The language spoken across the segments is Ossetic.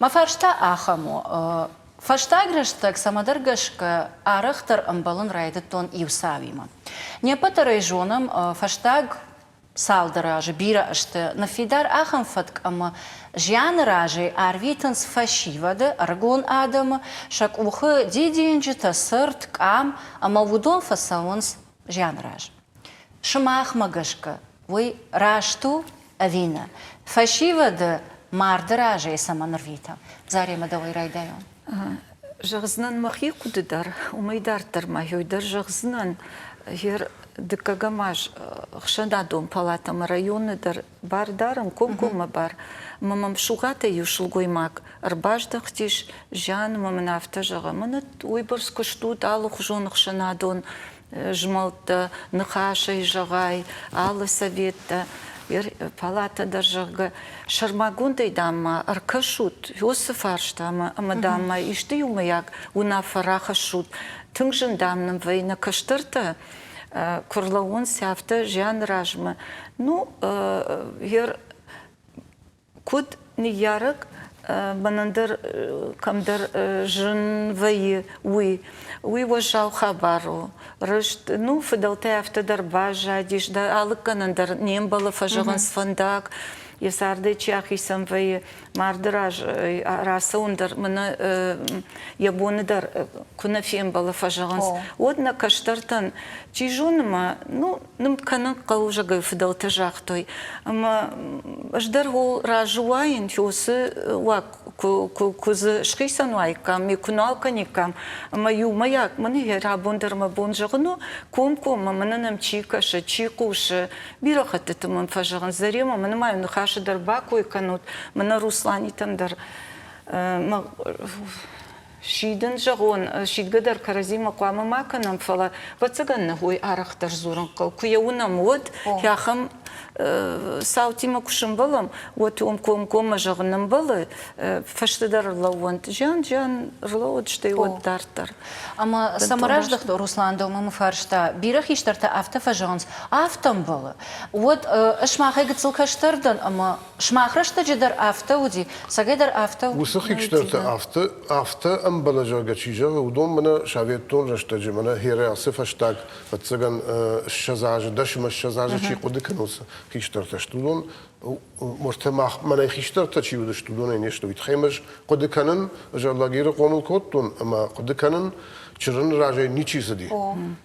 Мӕ фарста ахӕм у, Фӕстаг рӕстӕг цӕмӕдӕр гӕсгӕ арӕхдӕр ӕмбӕлын райдыдтон иу цауимӕ. Не ппӕт дӕр ӕй зонӕм, фӕстаг цалдӕр азы бирӕ ӕзты ныффидар ахӕм фӕтк ӕмӕ зианы разӕй арвитынц фӕсивӕды, ӕрыгон адӕмы, сӕ къухы дидинджытӕ, цырт, къам ӕмӕ уыдон фӕцӕуынц зианы раз. Сымахмӕ гӕсгӕ уый раст у ӕви нӕ? Фӕсивӕды марды разӕй цӕмӕн ӕрвитӕм? Заремӕ, дӕуӕй райдайон. Зӕгъдзынӕн мӕхи хъуыды дӕр, уымӕй дарддӕр ма йой дӕр зӕгъдзынӕн, гер дыккӕгӕм аз ӕхсӕнадон палатӕмӕ районы дӕр Бар дарӕм комкоммӕ бар. Ӕмӕ мӕм Сугатӕй иу сылгоймаг ӕрбаздӕхтис, зианы мын афтӕ зӕгъы, Мӕнӕт уыйбӕрц куыст ут, алыхуызон ӕхсӕнадон змӕлдтӕ, ныхасӕй зӕгъай, алы советтӕ, палатӕ дӕр, зӕгъгӕ, сӕрмагондӕй, дам-ма, ӕркӕсут уыцы фарстамӕ ӕмӕ, дам-ма, исты иумӕйаг уынаффӕ рахӕссут. Тынг зын, дам, нын вӕййы нӕ кӕстӕртӕ куы рлӕууон сӕфты зианы размӕ. Ну, ер куыд ныййарӕг мӕн ӕндӕр кӕмдӕр зын вӕййы, уый. Уый уӕззау хабар у. Рыст, ну, фыдӕлтӕ афтӕ дӕр баззадис, да алыггӕнӕн дӕр не мбӕлы фӕзӕгъынц фӕндаг, йӕ цардӕй чи ахицӕн вӕййы, марды раз рацӕуын дӕр мыны йӕ боны дӕр куы нӕ фембӕлы фӕзӕгъынц, уӕд нӕ кӕстӕртӕн, чи зоны ма, ну, ным кӕнын хъӕлдзӕгӕй фыдӕлтӕ загътой, ӕмӕ ӕз дӕр хол разы уаин, фёсы уаг куы дзы схицӕн уаиккам, ме куы нал кӕниккам, ӕмӕ иумӕйаг мын йӕ рабон дӕр мӕ бон зӕгъын у, комкоммӕ мын нӕм чи кӕсы, чи хъусы, Бирӕ хӕттыты мын фӕзӕгъынц, Заремӕ, мӕн ма иу ныхасы дӕр бакой кӕнут, мӕнӕ Русланитӕн дӕр мӕ сидын зӕгъон, сидгӕ дӕр кӕрӕдзимӕ хъуамӕ ма кӕнӕм, фӕлӕ ӕвӕццӕгӕн нӕхой арӕхдӕр дзурын хъӕуы. Куы йӕ уынӕм, уӕд ахӕм цаутимӕ куы сӕмбӕлӕм, уӕд уым комкоммӕ зӕгъын ӕмбӕлы, фӕстӕдӕр ӕрлӕууӕнт, зиан, зиан рлӕууыд, стӕй уӕд дарддӕр. Ӕмӕ самораздӕхт Руслан Домымы фарста, бирӕ хистӕртӕ афтӕ фӕзӕгъынц, афтӕмбӕлы, уӕд ӕз махӕй гыццыл кӕстӕр дӕн ӕмӕ сымах рӕстӕджы дӕр афтӕ уыди, сӕгӕй дӕр афтӕ. Уыцы хистӕртӕ афтӕ, афтӕ ӕмбӕлы, зӕгъгӕ, чи зӕгъы, уыдон мӕнӕ советон рӕстӕджы, мӕнӕ Херӕсы фӕстаг, ӕвӕццӕгӕн, ссӕдз азы, дӕсӕм ӕссӕдз азы чи хъуыды кӕны, уыцы хистӕртӕ сты, уыдон Мыртӕ мах мӕнӕй хистӕртӕ чи уыдысты, уыдонӕй не сты. Уый тыххӕй ӕз хъуыды кӕнын, ӕз Алагиры хъомыл кодтон, ӕмӕ хъуыды кӕнын, чырын разӕй ничи цыди.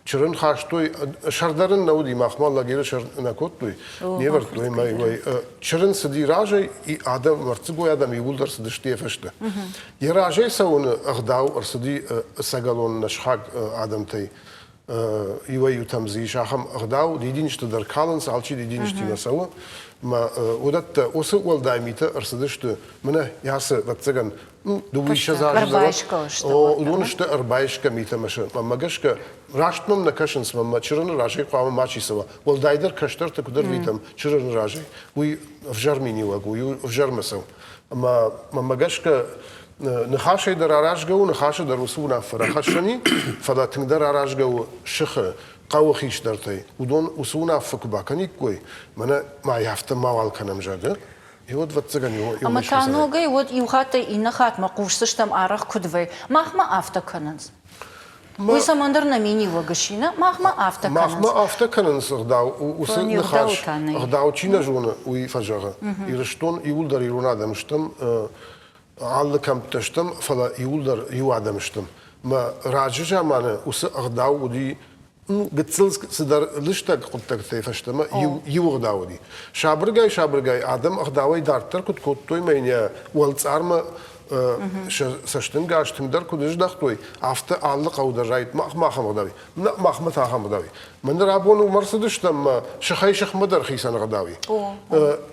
Чырын хастой, сӕрдар ын нӕ уыди, махмӕ Алагиры сӕр нӕ кодтой, не вӕрдтой ӕмӕ уӕй. Чырын цыди разӕй, адӕм, мӕрддзыгой адӕм иууылдӕр цыдысты йӕ фӕстӕ. Йӕ разӕй цӕуыны ӕгъдау ӕрцыди сӕгӕлон нӕсхаг адӕмтӕй. иуӕй-иутӕм дзы ис ахӕм ӕгъдау, дидинджытӕ дӕр калынц, алчи дидинджытимӕ цӕуы. Мӕ уыдӕттӕ уыцы уӕлдай митӕ ӕрцыдысты мӕнӕ ясы ӕвӕццӕгӕн ну дыууиссӕдз азы дӕргъы уыдон сты ӕрбайсгӕ митӕ мӕ мӕнмӕ гӕсгӕ раст мӕм нӕ кӕсынц мӕнмӕ чырыны разӕй хъуамӕ мачи цӕуа уӕлдайдӕр кӕстӕрты куыд ӕрвитӕм чырыны разӕй уый ӕвзӕр миниуӕг у ӕвзӕрмӕ цӕу ӕмӕ мӕнмӕ гӕсгӕ Ныхасӕй дӕр аразгӕ у, ныхасы дӕр уыцы уынаффӕ рахӕссӕни, фӕлӕ тынгдӕр аразгӕ у сыхы хъӕуы хистӕртӕй. Уыдон уыцы уынаффӕ куы бакӕниккой, мӕнӕ ма афтӕ мауал кӕнӕм, зӕгъы, Уӕд вӕццӕгӕн иу Ӕмӕ та ногӕй уӕд иу хаттӕй иннӕ хатмӕ хъусдзыстӕм арӕх куыд вӕй, махмӕ афтӕ кӕнынц. Уый цӕмӕндӕр нӕ миниуӕг ссины, махмӕ афтӕ кӕнынц. Махмӕ афтӕ кӕнынц ӕгъдау, уыцы ныхас ӕгъдау чи нӕ зоны, уый фӕзӕгъы. Ирыстон иууылдӕр ирон адӕм стӕм, Алы кӕмттӕ стӕм, фӕлӕ иуылдӕр иу адӕм стӕм. Мӕ раджы заманы уыцы ӕгъдау уыди гыццыл цыдӕр лыстӕг хъуыддӕгтӕй фӕстӕмӕ иу, иу ӕгъдау уыди. Сабыргай-сабыргай адӕм ӕгъдауӕй дарддӕр куыд кодтой мӕ йын йӕ уӕлцъармӕ сӕ цӕстӕнгас тынгдӕр куыд ыздӕхтой, афтӕ алы хъӕу дӕр райд мах ахӕм ӕгъдауӕй. Нӕ, махмӕ та ахӕм гъдауи. Мӕнӕ рабон уымӕ рцыдыстӕм мӕ сыхӕй-сыхмӕ дӕр хицӕн гъдауи.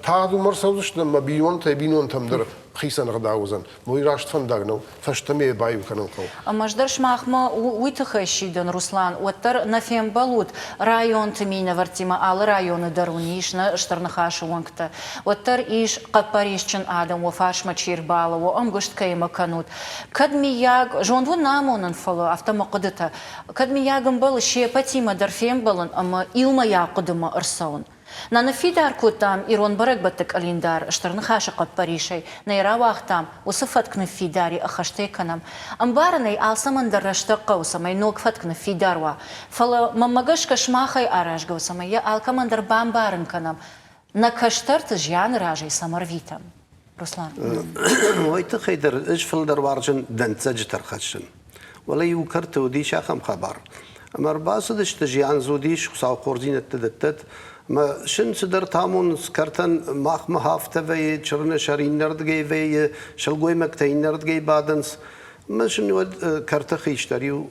Тагъд уымӕ рцӕудзыстӕм мӕ бинонтӕй бинонтӕм дӕр хицӕн гъдау уыдзӕн. Мой раст фӕндаг нӕу, фӕстӕмӕ йӕ баиу кӕнын хъӕуы. Ӕмӕ ӕз дӕр сымахмӕ уый тыххӕй сидын, Руслан, уӕддӕр нӕ фембӕлут районты минӕвӕрттимӕ, алы районы дӕр уын ис нӕ Стыр Ныхасы уӕнгтӕ. Уӕддӕр ис, хъӕппӕрисджын адӕм уӕ фарсмӕ чи рбалӕууы, ӕмгуыст кӕимӕ кӕнут. Кӕд, миййаг, зонд уын нӕ амонын, фӕлӕ афтӕ мӕ хъуыдытӕ, Кӕд, миййаг, ӕмбӕлы се пӕтимӕ дӕр фембӕлын ӕмӕ иумӕйаг хъуыдымӕ ӕрцӕуын. Нӕ ныффидар кодтам ирон бӕрӕгбӕтты къӕлиндар, Стыр Ныхасы хъӕппӕрисӕй нӕ рауагътам, уыцы фӕтк ныффидари ӕххӕстӕй кӕнӕм. Ӕмбарын ӕй, алцӕмӕн дӕр рӕстӕг хъӕуы, цӕмӕй ног фӕтк ныффидар уа. Фӕлӕ, мӕнмӕ гӕсгӕ, сымахӕй аразгӕ у, цӕмӕй йӕ алкӕмӕн дӕр бамбарын кӕнӕм, нӕ кӕстӕрты зианы разӕй цӕм ӕрвитӕм. Руслан. Уый тыххӕй дӕр ӕз фылдӕр уарзын дӕнцӕджы тӕрхӕссын. Уӕлӕ иу кӕрты уыдис ахӕм хабар. Ӕмӕ ӕрбацыдысты, зианз уыдис, Хуыцау хорздзинӕдты дӕттӕд, ӕмӕ сын цыдӕр тамуns кӕртӕн махмӕ хафтӕ вӕййы, чырыны сӕр иннӕрдыгӕй вӕййы, сылгоймӕгтӕ иннӕрдыгӕй бадынц. Ӕмӕ сын уӕд кӕрты хистӕр иу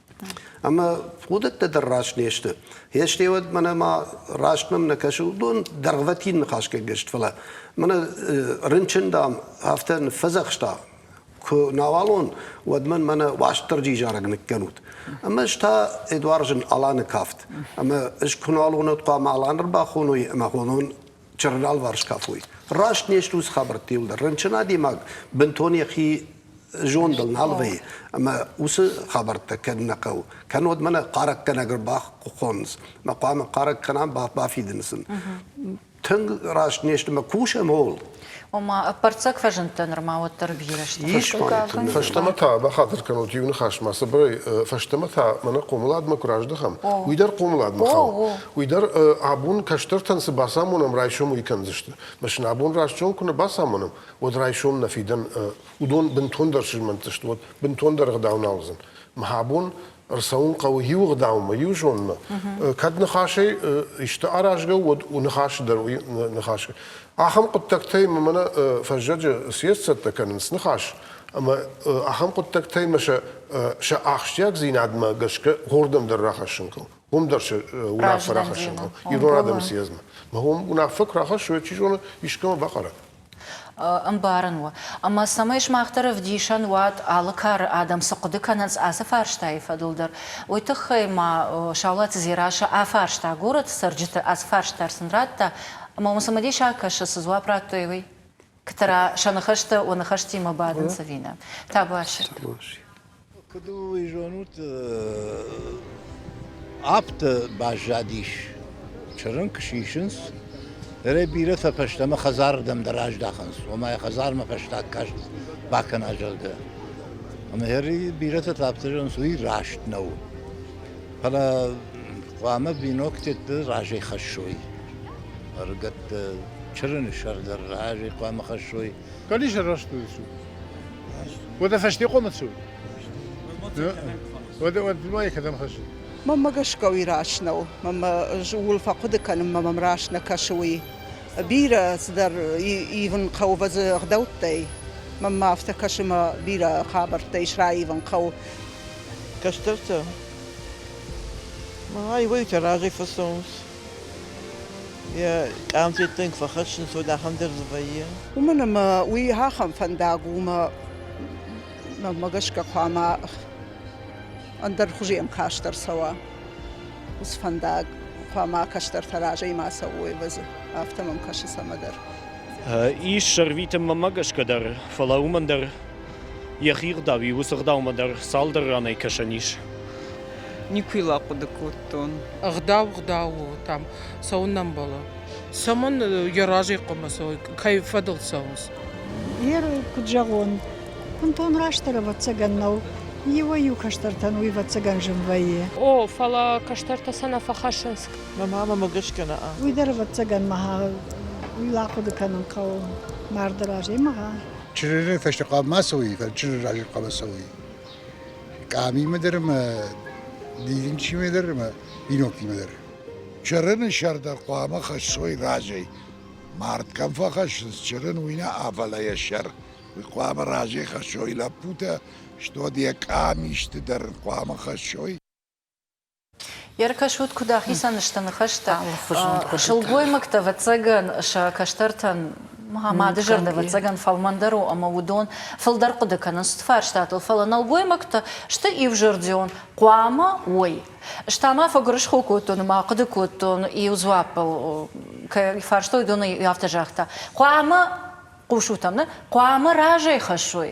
Ӕмӕ хъуыдыттӕ дӕр раст не сты. Йе стеуӕд мӕнӕ ма раст мӕм нӕ кӕсы, уыдон дӕргъвӕтин ныхасгӕнгӕ сты, фӕлӕ мӕнӕ рынчын, дам, афтӕ ныффӕдзӕхста, куы науалон, уӕд мын мӕнӕ Уастырджи зарӕг ныккӕнут. Ӕмӕ ӕз та Эдуард зын Аланы кафт. Ӕмӕ ӕз куы науалон уӕд хъуамӕ Алан ӕрбахоной ӕмӕ хонон чырналварс кафой. Раст не стут хабӕртты иуылдӕр. Рынчын адӕймаг бынтон йӕхи зондыл нал вӕййы. Ӕмӕ уыцы хабӕрттӕ кӕнын нӕ хъӕуы. Кӕннод мӕнӕ хъарӕггӕнӕг ӕрбахъуыхъоныц. Мӕ хъуамӕ хъарӕг кӕнам, бафидын сын. Тынг раст не сты, мӕ кусӕм ууыл. ома ӕппӕрццӕг фӕзындтӕ нырма уӕддӕр бирӕ сты. Ис ма. Фӕстӕмӕ та бахатыр кӕнут иу ныхасмӕ, цыбырӕй, фӕстӕмӕ та мӕнӕ хъомыладмӕ куы раздӕхӕм, уый дӕр хъомыладмӕ хауы. Уый дӕр абон кӕстӕртӕн цы бацамонӕм, райсом уый кӕндзысты. Мӕ сын абон растзон куы нӕ бацамонӕм, уӕд райсом нӕ фидӕн уыдон бынтондӕр сзмӕнтдзысты, уӕд бынтондӕр ӕгъдау нал уыдзӕн. Мӕ абон Ӕрцӕуын хъӕуы иу ӕгъдаумӕ, иу зонынмӕ. Кӕд ныхасӕй исты аразгӕ у, уӕд у ныхасы дӕр уый ныхас. Ахӕм хъуыддӕгтӕй мӕнӕ фӕззӕджы съезд цӕттӕ кӕнынц ныхас, ӕмӕ ахӕм хъуыддӕгтӕй мӕ сӕ сӕ ахсджиагдзинадмӕ гӕсгӕ хордӕм дӕр рахӕссын хъӕуы. Уым дӕр сӕ уынаффӕ рахӕссын хъӕуы ирон адӕмы съездмӕ. Мӕ уым уынаффӕ куы рахӕссой, чи зоны, искӕмӕ бахъарат. ӕмбарын у. Ӕмӕ цӕмӕй сымах дӕр ӕвдисӕн уат, алы кары адӕм цы хъуыды кӕнынц ацы фарстайы фӕдыл дӕр, уый тыххӕй ма Саулаты Дзерассӕ афарста горӕты цӕрджыты, ацы фарст дӕр сын радта ӕмӕ уым цымыдисаг кӕсы, цы дзуапп радтой, уый. Ктра сӕ ныхӕстӕ уӕ ныхӕстимӕ бадынц ӕви нӕ? Табуафсир. Куыд ыл уый зонут, аптӕ баззадис, чырын куы сисынц, нырӕй бирӕтӕ фӕстӕмӕ хӕдзарырдӕм дӕр аздахынц, ома йӕ хӕдзармӕ фӕстаг каст бакӕна, зӕгъгӕ. Ӕмӕ ӕри бирӕтӕ та афтӕ зӕгъынц, уый раст нӕу. Фӕлӕ хъуамӕ биноктӕ разӕй хӕссой. Ӕрыгӕттӕ чырыны сӕр дӕр разӕй хъуамӕ хӕссой. Кали же растуд цу. Уӕдӕ фӕстехъомӕ цу. Уӕдӕ ма екӕдӕм хӕсс. Мамма гӕсгауи раснау, мамма ул фӕхъуды кӕнын, мамам раснӕ кӕсы уый. Бирӕ цыдӕр ивын хъӕуы вӕзы ӕгъдӕуттӕй. Мамма афтӕ кӕсы мӕ бирӕ хабӕрттӕ ис раивын хъӕуы. Кӕстӕртӕ, ай уайтӕ разӕй фӕцӕуынц. Йӕ къамфеттӕн куы фӕхӕссын, уӕд ахӕм дӕр дзы вӕййы. Уымӕн ӕмӕ уый ахӕм фӕндаг у, ӕмӕ мӕнмӕ гӕсгӕ хъуамӕ ӕндӕр хуызы ӕмкастӕр цӕуа. Уыцы фӕндаг хъуамӕ кӕстӕртӕ разӕй ма цӕуой ӕвӕдзы. Афтӕ мӕм кӕсы цӕмӕдӕр. Ис ӕрвитынмӕ мӕ гӕсгӕ дӕр, фӕлӕ уымӕн дӕр Йӕхи ӕгъдауи уыцы ӕгъдаумӕ дӕр цалдӕр ранӕй кӕсӕн ис. Никуы йыл ахъуыды кодтон. Ӕгъдау ӕгъдау у, там цӕуынӕмбӕлы. Цӕмӕн йӕ разӕй хъуамӕ цӕуой, кӕй фӕдыл цӕуынц? Герой, куд зӕгъон, бунтон растдӕр ӕвӕццӕгӕн нӕу, иуӕй-иу кӕстӕртӕн уый ӕвӕццӕгӕн зын вӕййы. О, фӕлӕ кӕстӕртӕ сӕ нӕ фӕхӕссынц. Мӕ мамӕмӕ гӕсгӕ нӕ. Уый дӕр, ӕвӕццӕгӕн, мӕ уый ахъуыды кӕнын хъӕуы марды раз. Ема гъа! Чырыры фӕстӕхъӕл ма цӕуй, чырыр рази хъӕбӕр цӕуй. Къамимӕ дӕр ӕма дидинчимӕ дӕр ӕма биноктимӕ дӕр. Чырыны сӕр дӕр хъуамӕ хӕссой разӕй. Мард кӕм фӕхӕссынц чырын, уый нӕ афӕлӕ йӕ сӕр. Уый хъуамӕ разӕй хӕссой лӕппутӕ, стод йӕ къамисты дӕр хъуамӕ хӕссой. Ӕркӕсут, куыд ахицӕн сты ныхӕстӕ сылгоймӕгтӕ, ӕвӕццӕгӕн, сӕ кӕстӕртӕн мады зӕрдӕ ӕвӕццӕгӕн фӕлмӕндӕр у ӕмӕ уыдон фылдӕр хъуыды кӕнынц цыты фарстатыл, фӕлӕ нӕлгоймӕгтӕ сты иузӕрдион, хъуамӕ уой. Ӕз та ма фӕгуырысхо кодтон ӕмӕ ахъуыды кодтон, иу дзуаппыл кӕй фарстой, уыдон афтӕ загъта, хъуамӕ хъусут ӕмӕ хъуамӕ разӕй хӕссой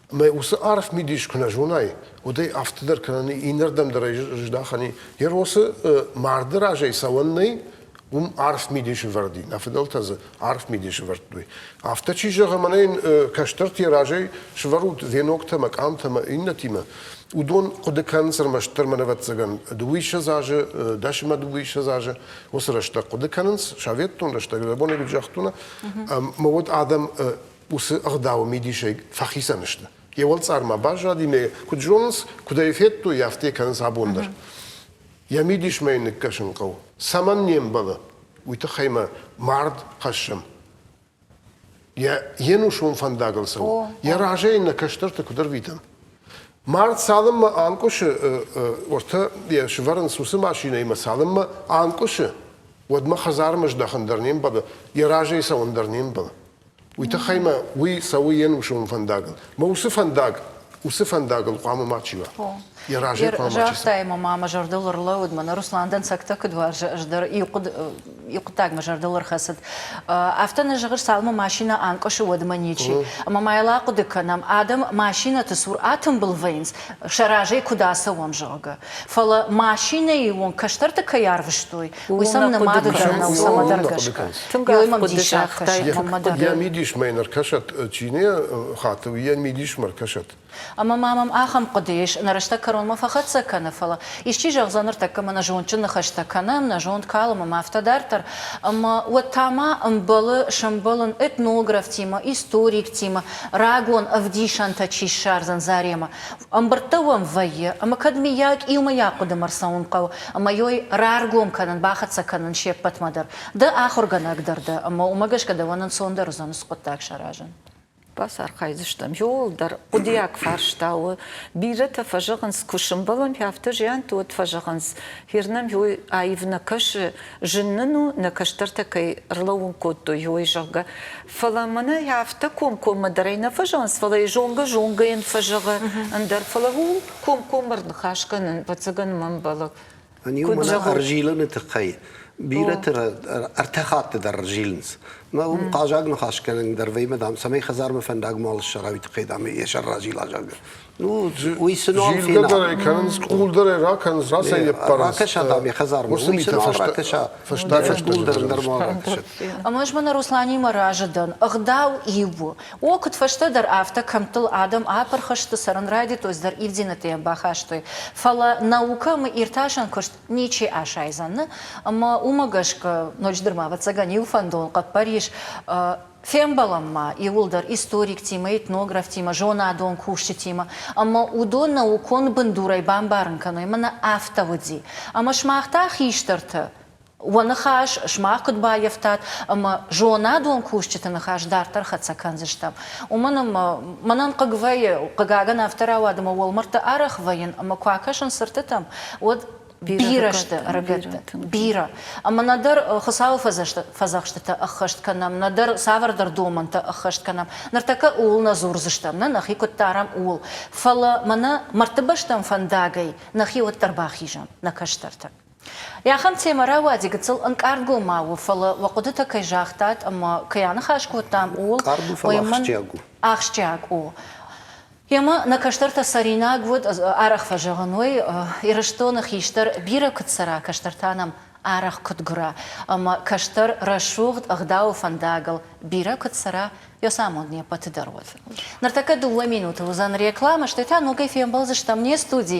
Мӕ уыцы арф мидис куы нӕ зонай, уӕд ӕй афтӕ дӕр кӕнӕни иннӕрдӕм дӕр ӕй здахӕни. Йӕ росы марды разӕй цӕуӕн нӕй, уым арф мидисы вӕрди. Нӕ фыдӕлтӕ дзы арф мидисы вӕрдтой. Афтӕ чи зӕгъы, мӕнӕ кӕстӕрты йӕ разӕй свӕрут веноктӕ мӕ къамтӕ мӕ иннӕтимӕ, уыдон хъуыды кӕнынц ӕрмӕстдӕр мӕнӕвӕццӕгӕн дыууиссӕдз азы, дӕс ӕмӕ дыууиссӕдз азы. Уыцы рӕстӕг хъуыды кӕнынц, советон рӕстӕг, забонӕй куыд загътон, ӕмӕ уӕд адӕм уыцы ӕгъдауы мидисӕй фӕхицӕн сты. Йӕ уӕлцъармӕ баззади, нӕ куыд зонынц, куыд ӕй федтой, афтӕ кӕнынц абон дӕр. Йӕ мидисмӕ йын ныккӕсын хъӕуы. Цӕмӕн не мбӕлы, уый тыххӕй мӕ мард хӕссӕм. Йӕ йе нусон фӕндагыл цӕуы. Йӕ разӕй йын нӕ кӕстӕрты куыд ӕрвитӕм. Мард цалынмӕ анкъуысы, уӕртӕ йӕ сывӕрынц уыцы машинӕимӕ, цалынмӕ анкъуысы, уӕдмӕ хӕдзармӕ здӕхын дӕр не мбӕлы, йӕ разӕй цӕуын дӕр не мбӕлы. уый тыххӕй мӕ уый цӕуы йе нусон фӕндагыл. Мӕ уыцы фӕндаг уыцы фӕндагыл хъуамӕ мачи уа. Йӕ разӕй хъуамӕ Загътай, мӕ мама зӕрдыл ӕрлӕууыд, мӕнӕ Руслан дӕнцӕгтӕ куыд уарзы, ӕз дӕр иу хъуыд, иу хъуыддаг мӕ зӕрдыл ӕрхӕцыд. Афтӕ нӕ зӕгъыс, цалынмӕ машинӕ анкъуысы, уӕдмӕ ничи. Ӕмӕ ма йыл ахъуыды кӕнӕм, адӕм машинӕты цур атымбыл вӕййынц, сӕ разӕй куыд ацӕуӕм, зӕгъгӕ. Фӕлӕ машинӕйы онг кӕстӕрты кӕй арвыстой, Уый сӕм нымады кӕнӕ сӕмӕ дӕр гӕсгӕ. Тынг хъуыды загътай, тынг хъуыды. Йӕ мидисмӕ йын ӕркӕсӕд, чи нӕ хаты, уый йӕ мидисмӕ ӕркӕсӕд. Ӕмӕ ма мӕм ахӕм хъуыды ис, нӕ рӕстӕг кӕронмӕ фӕхӕццӕ кӕны, фӕлӕ исчи зӕгъдзӕн, ныртӕккӕ мӕ нӕ зондджын ныхӕстӕ кӕнӕм, нӕ зонд калымым, афтӕ дарддӕр, ӕмӕ уӕд та ма ӕмбӕлы сӕмбӕлын этнографтимӕ, историктимӕ, рагон ӕвдисӕнтӕ чи ссардзӕн Заремӕ. Ӕмбырдтӕ уӕм вӕййы, ӕмӕ кӕд, миййаг, иумӕйаг хъуыдымӕ рцӕуын хъӕуы, ӕмӕ йой раргом кӕнын, бахӕццӕ кӕнын се ппӕтмӕ дӕр. Ды ахуыргӕнӕг дӕр дӕ, ӕмӕ уымӕ гӕсгӕ дӕуӕн ӕнцондӕр уыдзӕн уыцы хъуыддаг саразын. Бацархайдзыстӕм. Иууылдӕр хъуыдыйаг фарста у. Бирӕтӕ фӕзӕгъынц, куы сӕмбӕлӕм, афтӕ зианты уӕд фӕзӕгъынц, Хир нӕм иой аив нӕ кӕсы, Зын нын у, нӕ кӕстӕртӕ кӕй ӕрлӕууын кодтой, уой, зӕгъгӕ. Фӕлӕ мӕнӕй афтӕ комкоммӕ дӕр ӕй нӕ фӕзонынц, фӕлӕ йӕ зонгӕ-зонгӕйӕн фӕзӕгъы ӕндӕр, фӕлӕ ууыл комкоммӕ ӕрныхас кӕнын, ӕвӕццӕгӕн мӕ ӕмбӕлы. Ӕниу мӕнӕ ӕрзилыны тыххӕй бирӕты ӕртӕ хатты дӕр ӕрзилынц. Мӕ уым хъазаг ныхасгӕнӕг дӕр вӕййы, дам, цӕмӕй хӕдзармӕ фӕндаг мал ссара, уый тыххӕй, дам, йӕ сӕр разила, зӕгъгӕ. Уый цы ном фена? дӕр ӕй кӕнынц, къул дӕр ӕй ракӕнынц, рацӕй не ппарынц. Ракӕса там йӕ хӕдзармӕ, уый сын ракӕса. Фӕстаг къул дӕр нырма ракӕсӕд. Ӕмӕ ӕз мӕ нӕ Русланимӕ разы дӕн. Ӕгъдау иу у. О, куыдфӕстӕдӕр афтӕ кӕмттыл адӕм апырх сты, цӕрын райдыдтой, цыдӕр ивдинӕдтӕ йӕ бахастой. Фӕлӕ наукӕ ӕмӕ иртасӕн куыст ничи асайдзӕн. Ӕмӕ уымӕ гӕсгӕ ноджыдӕр ма, ӕвӕццӕгӕн, иу фӕндон хъӕппӕрис Фембӕлӕм ма иуылдӕр историктимӕ, этнографтимӕ, зонадон кусджытимӕ ӕмӕ уыдон наукон бындурӕй бамбарын кӕной, мӕнӕ афтӕ уыди. Ӕмӕ сымах та, хистӕртӕ, уӕ ныхас сымах куыд баййӕфтат ӕмӕ зонадон кусджыты ныхас дарддӕр хӕццӕ кӕндзыстӕм, уымӕн ӕмӕ мӕнӕн хъыг вӕййы, хъыгагӕн, афтӕ рауад ӕмӕ уӕлмӕрдты арӕх вӕййын ӕмӕ куы акӕсын цыртытӕм, уӕд. бирӕ сты ӕрыгӕттӕ бирӕ ӕмӕ нӕдӕр хуыцауы фӕдзӕхстытӕ ӕххӕст кӕнӕм нӕдӕр цавӕрдӕр домӕнтӕ ӕххӕст кӕнӕм ныртӕккӕ ууыл нӕ дзурдзыстӕм нӕ нӕхи куыд дарӕм ууыл фӕлӕ мӕнӕ мӕрдты бӕстӕм фӕндагӕй нӕхи уӕддӕр бахизӕм нӕ кӕстӕртӕ Ахӕм темӕрӕуӕди гыццыл ӕнкъард-гом ма у, фӕлӕ уӕ хъуыдытӕ кӕй загътат ӕмӕ кӕй аныхас кодтам, ууыл. Къард у, фӕлӕ ахсджиаг у. Ахсджиаг у. Йемӕ нӕ кӕстӕртӕ цӕринаг уыд, арӕх фӕзӕгъын уый, Ирыстоны хистӕр бирӕ куыд цӕра, кӕстӕртӕ нӕм арӕх куыд гуыра, ӕмӕ кӕстӕр рӕсугъд ӕгъдауы фӕндагыл бирӕ куыд цӕра, Йосамон не ппӕты дӕр уыд. Ныртӕккӕ дыууӕ минуты уыдзӕн рекламӕ, стӕй та ногӕй фембӕлдзыстӕм не студи